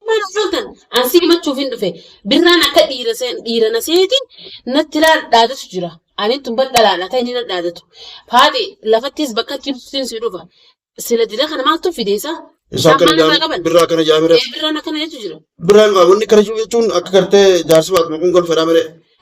Maal hojjetan? An si himachuuf hin dhufe. Birraan akka dhiira seen- dhiira na seeti natti laa- dhaadatu jira. Ani tun bar dhalaadha ta'e inni na dhaadatu. Faaxi lafattis bakka jibsuutiin si dhufa. Sila dila kana maaltu fideessa? Isa Isaan akkana maal irraa jaan qaban? birraa akkana jaamire. Ee birraan akkana jechu jira. Birraan qaama inni kana jiru jechuun akka gartee jaarsi baatuma kun golfedhaa malee.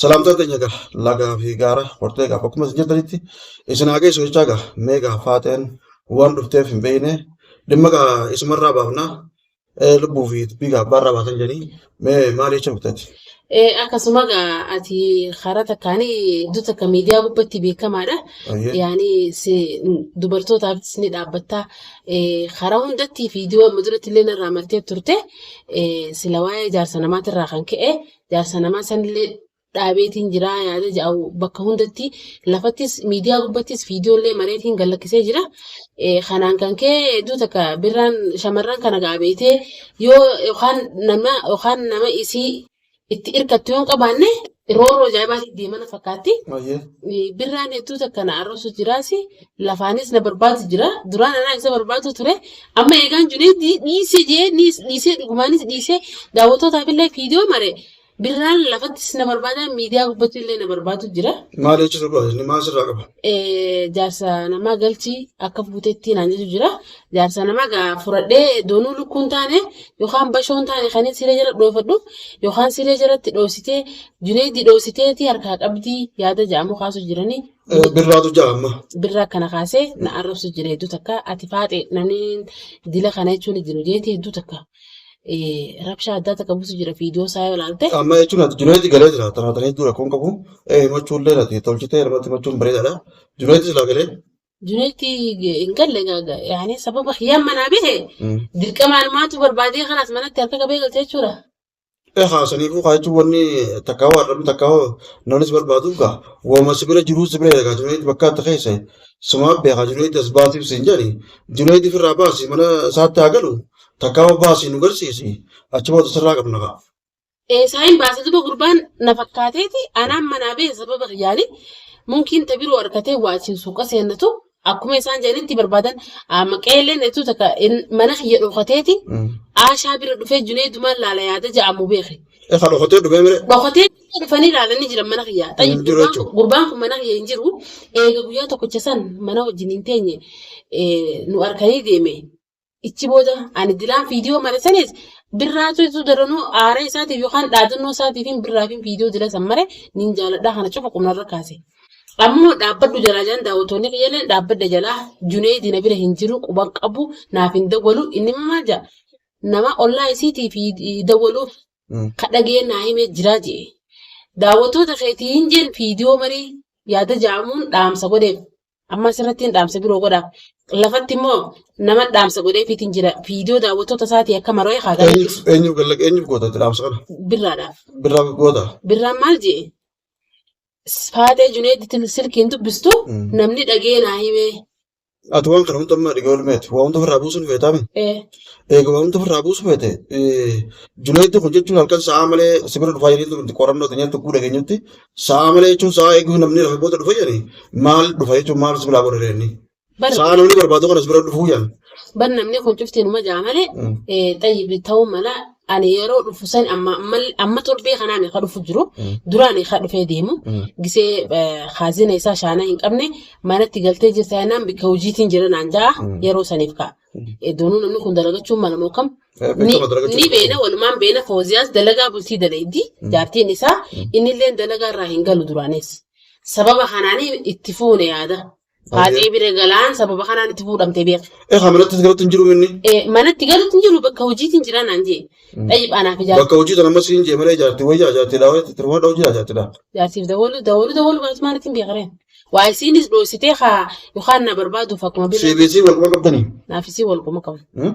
Salaamtaa teenya egaa lagaa fi gaara hortee egaa bakkuma isin jirtanitti isin haa geessu jechaa egaa mee egaa faateen waan dhufteef hin beekne dhimma egaa isumarraa baafnaa eh, lubbuu fi dubbii egaa abbaarraa baasan jedhanii mee maal jecha murteetti? Eh, akkasuma egaa ati karaa takkaan iddoo takka miidiyaa gubbatti beekamaadha. Ayyee. Yaani si dubartootaafis ni dhaabbatta. Eh, karaa hundatti viidiyoo amma duratti illee narraa martee turte eh, sila waa'ee ijaarsa namaatirraa kan ka'e Jaarsa namaa sanillee dhaabeetiin jira yaada jedhu bakka hundatti lafattis miidiyaa gubbattis viidiyoollee mareetiin gad lakkisee jira. Eh, Kanaan kan ka'e hedduu takka birraan shamarran kana gaabeetee yoo yookaan nama yookaan nama isii itti hirkattu yoo hin qabaanne roorroo ajaa'ibaatiin deemana fakkaatti. Ayyee. Eh, Birraan hedduu takka na arrabsu jiraasi Lafaanis na barbaadu jira. Duraan anaa isa barbaadu ture. Amma eegaan Juneed dhiisee jee dhiisee dhugumaanis dhiisee daawwattootaaf illee viidiyoo mare birraan lafattis na barbaada miidiyaa gubbatti illee na barbaadu jira. Maal jechuu barbaada inni maal sirraa qaba? Jaarsa namaa galchii akka fuutetti naan jechu jira. Jaarsa namaa gaa furadhee doonuu lukkuun taane yookaan bashoon taane kan siree jala dhoofadhu yookaan siree jalatti dhoositee Juneedii dhoositeeti harkaa qabdii yaada ja'amu kaasuu jiranii. Eh, Birraatu ja'a amma. birra akkana kaasee na arrabsu jira hedduu takka ati faaxe namni dila kana jechuun hin jiru jeeti hedduu takka eh, rabshaa addaa takka buusu jira viidiyoo isaa yoo ilaalte Amma jechuun ati Junaayid galee jira. Tanaa tanaa hedduu rakkoon qabu. Eh, himachuun illee ati tolchitee namatti himachuun bareedaadha. Junaayid silaa galee. juneetti hin galle gaaga yaani sababa hiyyaan manaa bahe Mm. dirqamaan maatu barbaadee kanaas manatti harka qabee galchee jechuudha Egaa saniifuu kaa jechuun wanni takka hoo arrabni takka hoo namni si barbaadu kaa wama si bira jiruu si bira eegaa Junaayid bakka atta keessa sumaa beekaa Junaayid as baasiif siin jedhani Junaayid ofirraa baasi mana isaatti haa galu takka hoo baasi nu garsiisi achi booda sirraa qabna kaa. Eesaayin baasa duba gurbaan na fakkaateeti anaan manaa bee sababa kiyyaani munkiin ta biroo arkatee waa achiin suuqa seennatu Akkuma isaan jedhanitti barbaadan amma qeelleen jettu takka in- mana kiyya dhokateeti aashaa bira dhufee juneedumaan laala yaada ja'amu beeke. E ka dhokotee dhufee mire. Dhokatee dhufanii ilaalanii jiran mana kiyya. Hin Xayyib jiru gurbaan jechuudha. kun- gurbaan kun mana kiyya hin jiru. Eega guyyaa tokkicha san mana wajjin hin teenye eh, nu arkanii deeme. Ichi booda ani dilaan viidiyoo mare sanis birraatu isu daranuu aara isaatiif yookaan dhaadannoo isaatiifin birraafin viidiyoo dila san mare nin jaaladhaa kana cufa qubnarra kaase. Ammoo dhaabbadhu jalaa jaan daawwattoonni kiyyalleen dhaabbadha jalaa Juneeydi na bira hin jiru quban qabu naaf hin dawwalu inni immoo maal jaa nama ollaa isiitiif dawwaluuf ka dhagee naa himee jiraa jee. Daawwattoota keetiin jeen viidiyoo marii yaada jaamuun dhaamsa godheef Amma asirrattiin dhaamsa biroo godha. Lafatti immoo nama dhaamsa godheefiitiin jira. Viidiyoo daawwattoota isaatii akka maroo eegaa galee Eenyuuf eenyuuf galla eenyuuf goota itti dhaamsa kana? birraadhaaf. Birraa goota. Birraan maal jee? Faatee Juneeditti silkiin dubbistu Mm. namni dhagee naa himee. Ati waan kana hunda ammaa dhigee olmeeti. Waa hunda ofirraa buusuun feetaami. Eh, Eega waa hunda ofirraa buusu feete. Junaayiddi kun jechuun halkan sa'aa malee sibira dhufaa jireenya nuti qorannoo teenyatti guddaa keenyatti Sa'a malee jechuun sa'a eeguuf namni lafa booda dhufa jedhani maal dhufa jechuun maal si biraa godha deemni. Bar Sa'a namni barbaadu kanas bira dhufuu jedhan. bar namni kun cufti numa jaa malee Mm. eh, xayyibi ta'uu mala ani yeroo dhufu san amma ammal- amma torbee kanaan ka dhufu jiru Mm. duraan ka dhufee deemu Mm. gisee eh, haazina isaa shaanaa hin qabne manatti galtee jirta jennaan bakka hojiitiin jira naan ja'a Mm. yeroo saniif ka'a. Eh, Doonuu namni kun dalagachuun mala moo kam Eh, ni, beekama dalaga ni jirtu beena kun. walumaan beena fooziyaas dalagaa bultii dalaydi jaartiin isaa innillee dalagaa irraa hin galu duraanis sababa kanaan itti fuune yaada faaxee bira galaan sababa kanaan itti fuudhamte beeka Eh, haamilattis galatti hin jiru inni. Eh, manatti galuutti hin jiru bakka hojiitiin jira naan jee dhayyib anaaf ijaarti Bakka hojii sana ammas hin jee malee jaarti wayyaa jaarti dhaa wayyaa tirmaa dhaa hojii jaarti dhaa. jaartiif dawaluu dawaluu dawaluu baatu maalitti hin beekareen waa isiinis dhoositee haa yookaan na barbaaduuf akkuma bira CBC wal quba qabdanii. naafisii wal qoma qabu. Hmm?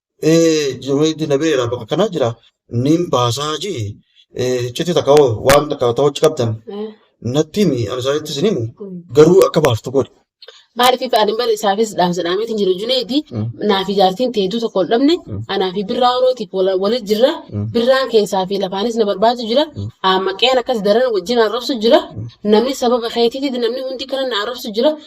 Eh, jimai di nabe ra baka kana jira. Nim bahasa haji. Eh, citi tak kau wan tak kau tahu cakap dan. Nanti mi ada saya itu sini mu. Garu aku bahas tu kau. Maaliif ani bara isaafis dhaamsa dhaameetiin jiru Juneedi naaf ijaartiin teetuu tokko ol dhabne anaa fi birraa orootiif waliin jirra birraan keessaa fi lafaanis na barbaadu jira maqeen akkas daran wajjin arrabsu jira namni sababa keetiitiin namni hundi kana na arrabsu jira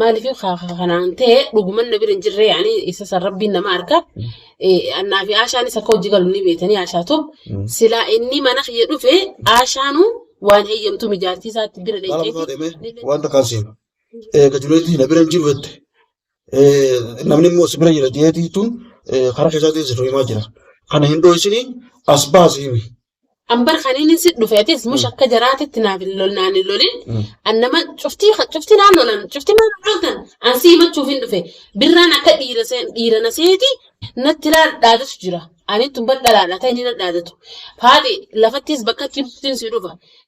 Maaliif kanaan ta'e dhuguman na bira hin jirre yaani isa san rabbiin nama arka. Annaa fi Aashaanis akka hojii galu ni beekanii Aashaatu. Silaa inni mana kiyya dhufe Aashaanu waan heeyyamtu mijaartii isaatti bira Maal dhaqxee. osoo deemee wanta kan seenu. Eega Juneedii na bira hin jiru jette. Namni immoo si bira jira jeetii tun karaa keessaatiin si tuhimaa jira. Kana hin dho'isinii as baasi himi. Ambar kan inni si dhufe atis mush akka jaraatitti naaf hin lol naan hin lolin. An nama cuftii cuftii naan lolan cuftii maal dhaaltan an si himachuuf hin dhufe. Birraan akka dhiira seen dhiira na seeti natti laal dhaadatu jira. Ani tun bar dhalaadha ta'e inni na dhaadatu. Faati lafattis bakkatti cuftiin si dhufa.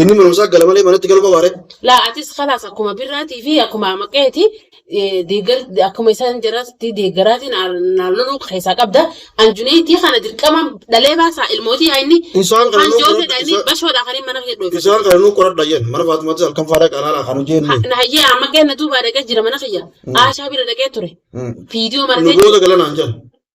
Inni mana isaa gala malee manatti galuu qabaa ree? Laa atis kalaas akkuma birraatii fi akkuma maqeeti deeggar akkuma isaan jaraatti deeggaraatiin naan loluu keessaa qabda. An Juneetii kana dirqama dhalee baasaa ilmootii haa inni Isaan kana kan nuu jootedha qoradha. inni Isaan, bashoodha kan inni mana kee dhoofa. isaan kana nuu qoradha yen. Mana Faatumaattis halkan faadaa qalaala kan hojii inni. Na hayyee amma qeenna duubaa dhaqee jira mana kiyya. Aashaa bira dhaqee ture. Viidiyoo Nu maratee booda galanaan jedhan.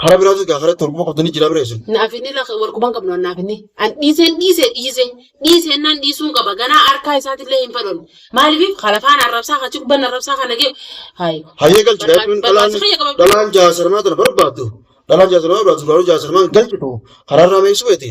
Karaa biraatu egaa karatti walquba qabdu ni jira bira isin. Naaf inni lafa walquban qabnu naaf inni. An dhiiseen dhiise dhiise dhiise naan dhiisuun qaba ganaa harkaa isaatillee hin fedhon. Maaliif kalafaan arrabsaa kachi gubban arrabsaa kana gee. Hayi. Hayyee galchi daa'imman dhalaan dhalaan jaasarmaa tana barbaaddu dhalaan jaasarmaa barbaaddu dhalaan jaasarmaa galchitu karaarraa meesuu beeti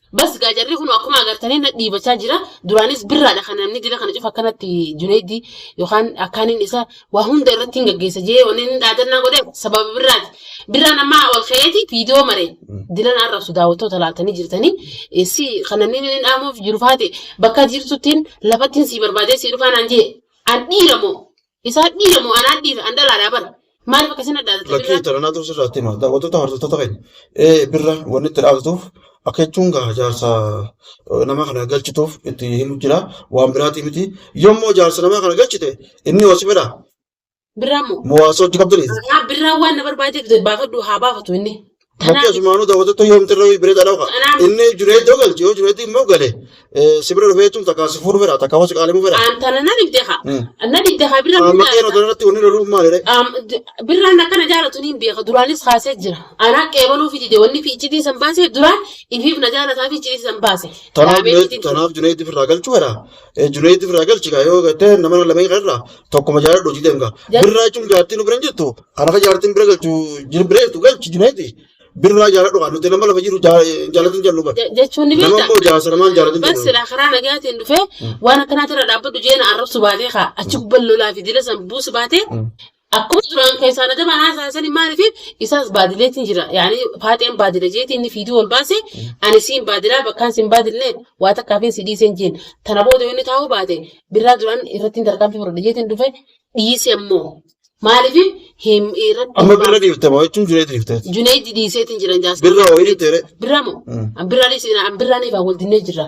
Bas gaa jarri kun akkuma agartanii na dhiibachaa jira. Duraanis birraadha kan namni dila kana cufa akkanatti Juneeddii yookaan akkaaniin isa waa hunda irratti hin gaggeessa jee wanni inni dhaadannaa godhe sababa birraati. Birraan ammaa ol ka'eeti viidiyoo mare dila na arrabsu daawwattoota laaltanii jirtanii eh, si kan namni inni dhaamuuf jiru faate bakka jirtuttiin lafattiin sii barbaadee sii dhufaa naan jee an dhiira moo Isaan dhiira moo anaan dhiira an dhalaadhaa bara. Maaliif akkasiin adda adda Lakkii birraa? taranaa tursi irratti hima. Daawwattoota hordoftoota keenya. Ee birra wanni itti dhaabatuuf akka jechuun gaa jaarsa eh, nama kana galchituuf itti himu jira. Waan biraatii miti. Yommuu jaarsa nama kana galchite inni hosi fedha. Birraa moo? Mo'aasa hojii qabdanii. Haa birraa waan na barbaadeef baafadhu haa baafatu inni. Bakki Kanaaf asumaanuu daawwattoota yoomti irra bira dhalaqa. kanaaf Inni juneeddoo galche yoo juneeddi immoo gale eh, si bira dhufee jechuun takkaa si fuudhu fedha takkaa hoos qaalimuu fedha. aan tana na dhibde haa. Hmm. Na dhibde haa birra Amma birraa qeeroo irraa. irratti wanni loluun maalidha? Am- d- birraan akkana jaalatu ni beeka duraanis kaasee jira anaa qeebaluu fi dide wanni fi iccitii san baase duraan ifiif na jaalataa fi iccitii san baase Tanaaf dhaabee juneed- iccitiin tanaaf juneeddi firraa galchuu fedha. Eh, Junaid biraa galchi kaa yoo gattee nama lameen kana irraa tokkuma jaaladhu hojii deemka. Jal- Birraa jechuun jaartiin nu bira hin jirtu. Kan akka jaartiin bira galchu jir bira jirtu galchi Junaid. Birraa jaaladhu kaa nuti nama lama jiru jaa- jaalatin jennu bar. Je- jechuun ni Nama beekta. immoo jaarsa namaan jaalatin Bas jennu. silaa karaa nagaatiin dhufee waan akkanaa jira dhaabbadhu jeena arrabsu baatee kaa achi gubbaan lolaa fi dila san buusu baatee Akkuma duraan keessaa na dabaan haasaan sani maaliif isaas baadileetiin jira. Yaani faaxeen baadila jeetii inni fiiduu ol baase ani siin baadilaa bakkaan siin baadillee waa takkaafin si dhiiseen jeen. Tana booda inni taa'uu baate birraa duraan irrattiin tarkaanfii fudhadha jeetiin dhufe dhiise ammoo maaliif hin irratti. Amma birra dhiifte moo jechuun junee dhiifte. Juneedi dhiiseetiin jiran jaasuma. Birra wayii dhiifte. Birraa moo? Birraa dhiisina birraa niifaa wal dinnee jirra.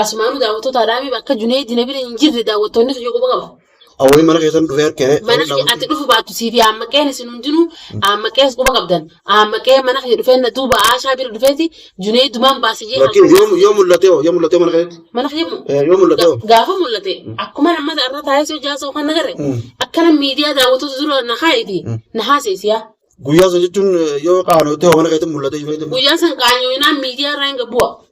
Asumaanuu daawwattoota Adaamii bakka Juneedii na bira hin jirre daawwattoonni kiyya quba qabu. Awwayii mana keessan dhufee harkee. Mana kiyya ati dhufu baattu siifi aammaqeen isin hundinuu aammaqees quba qabdan. Aammaqee mana kiyya dhufee na duuba Aashaa bira dhufeeti Juneedumaan baase jee Lakkiin yoo yoo mul'atee hoo yoo mul'atee mana keessatti. Mana kiyya moo? Eh, Yoo mul'atee hoo. Gaafa mul'ate akkuma amma irra taa'ee si hojjaa sa'u kan nagarre akkana miidiyaa daawwattoota dura na kaa'eeti na haaseesiyaa. Guyyaa sana jechuun eh, yoo qaanootee hoo mana keessatti mul'atee jireenya. Guyyaa san qaanyooyinaan miidiyaa irraa hin gabbu'a.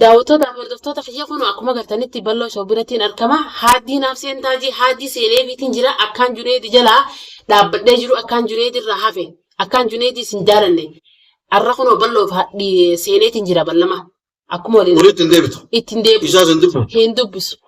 Daawwattoota fi hordoftoota kiyya kunoo akkuma agartanitti balloo show birattiin argama. Haaddii naaf seentaa jee haaddii seenee fiitiin jira akkaan Juneedi jalaa dhaabbadhee jiru akkaan Juneedi irraa hafe akkaan Juneedi isin jaalanne arra kunoo balloo fi seeneetiin jira ballama akkuma waliin Kun ittiin deebitu. ittiin deebitu Isaas hin dubbisu. hin dubbisu.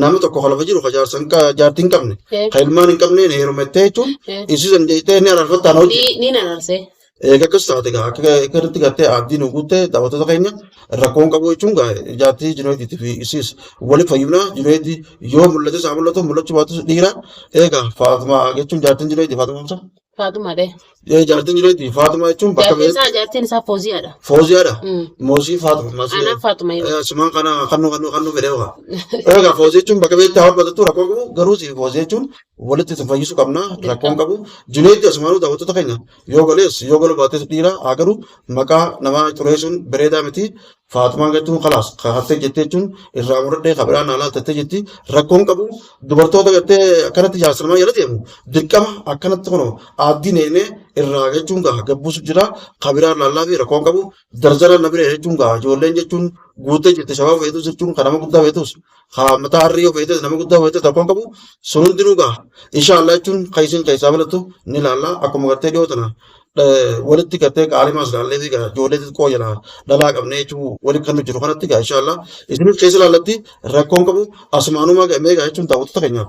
Namni tokko kan lafa jiru kan jaarsa hin qa- jaartii hin qabne Eh. kan ilmaan hin qabne na heerumettee jechuun Eh. isii san jettee ni araarfattaan hojii. Ni ni nanarse. Egaa akkas taate gaa akka akka irratti gartee abdii nu guutte daawwattoota keenya rakkoon qabu jechuun gaa jaartii Junaayidii fi isiis waliif fayyumna Junaayidii yoo mul'ates haa mul'atu mul'achuu baatus dhiira egaa Faatumaa jechuun jaartiin Junaayidii Faatumaa Hamsa. Faaxuma dhe. Ee jaartiin jireetti Faaxuma jechuun bakka Jaartiin isaa jaartiin isaa Fooziyaadha. Fooziyaadha. Mm. Moosii Faaxuma. Moosii- Anaan Faaxuma yoo. Eh, Sumaan kana kannuu kannuu kannuu fedhee waa. Egaa foozii jechuun bakka beektaa waan batattu rakkoo qabu garuu si foozii jechuun walitti isin fayyisuu qabna rakkoon qabu jineetti asumaanuu daawwattoota keenya yoo galees yoo galu baates dhiira haa galu maqaa namaa xureessuun bareedaa miti Faaxumaan jechuun kalaas kahattee jettee jechuun irraa muradhee ka biraan alaa tattee jetti rakkoon qabu dubartoota gattee akkanatti jaarsalmaa jala deemu dirqama akkanatti kun aaddii neenee irraa jechuun gaha gabbuusu jira ka biraan laallaa fi rakkoon qabu darzara na bira jechuun gaha ijoolleen jechuun guuttee jirti shabaaba feetus jechuun kan nama guddaa feetus haa mataa harrii yoo feetes nama guddaa feetes rakkoon qabu sun hundinuu gaha inshaallah jechuun kan isin keessaa balatu ni ilaalla akkuma gartee dhiyoo tana eh, walitti gartee qaalimaas ilaallee fi gaa ijoollee xixiqqoo jala dhalaa qabnee jechuu walitti kan nu jiru kanatti gaa inshaallah isinis keessa ilaallatti rakkoon qabu asumaanumaa gamee gaa jechuun daawwattoota keenyaaf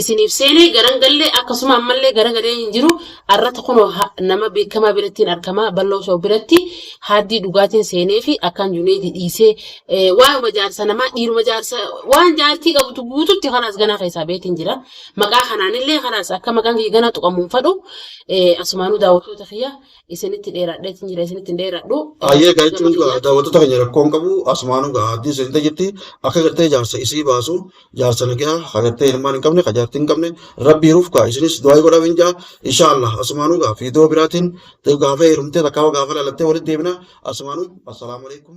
isiniif seenee garan gallee akkasuma ammallee gara galee hin jiru arrata kunoo ha- nama beekamaa birattiin argamaa balloo shoo biratti haaddii dhugaatiin seenee fi akkaan juneedi dhiisee eh, waa'uma jaarsa namaa dhiiruma jaarsa waan jaartii qabutu guututti kanaas ganaa keessaa beetiin jira maqaa kanaanillee kanaas akka maqaan kiyya ganaa tuqamuun fadhu eh, asumaanuu daawwattoota kiyya isinitti dheeraadheetiin jira isinitti hin dheeraadhu eh, Ayyee gama gajechuun kiyya daawwattoota keenya rakkoon qabu asumaanuu gahaa haaddii seentee jirti akka gartee jaarsa isii baasu jaarsa nagaa hagartee ilmaan hin qabne ka jaartii hin qabne rabbii ruuf kaa isinis du'aa godhaa hin jaa insha Allah asumaanuu gaa fiidoo biraatiin gaafee hirumtee takkaa gaafaa lalattee walitti deebina asumaanuu assalaamu alaikum